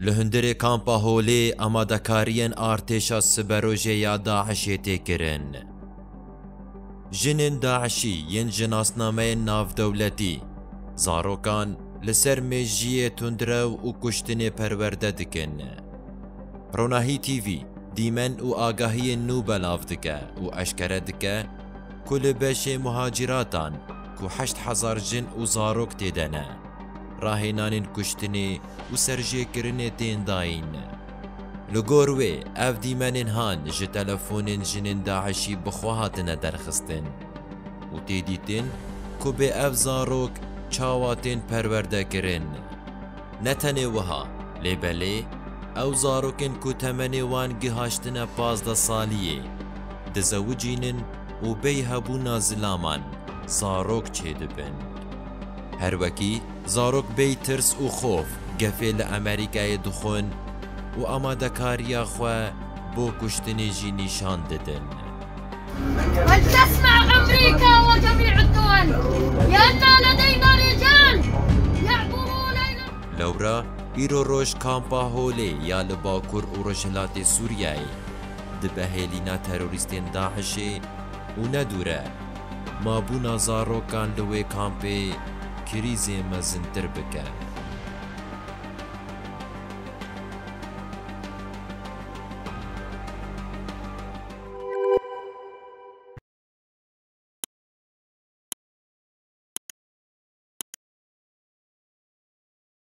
Li hundirê kampa Holê amadekariyên artêşa siberojê ya DAIŞ'ê tê kirin. Jinên DAIŞ'î yên ji nasnameyên navdewletî, zarokan li ser mêjiyê tundrew û kuştinê perwerde dikin. Ronahî TV dîmen û agahiyên nû belav dike û eşkere dike ku li beşê muhacîratan ku heşt hezar jin û zarok tê de ne, Rahênanên kuştinê û serjêkirinê tên dayîn. Li gor wê ev dîmenên han ji telefonên jinên DAIŞ'î bi xwe hatine derxistin û tê dîtin ku bê ev zarok çawa tên perwerdekirin. Ne tenê wiha, lê belê ew zarokên ku temenê wan gihaştine pazdeh saliyê, dizewicînin û bêy hebûna zilaman zarok çêdibin. Her wekî zarok bêy tirs û xof gefê li Amerîkayê dixwin û amadekariya xwe bo kuştinê jî nîşan didin. Lewra îro roj Kampa Holê ya li Bakur û Rojhilatê Sûriyeyê di behêlîna terorîstên DAIŞ'ê û ne dûre Mabûna zarokan li wê kampê krîzê mezintir bike.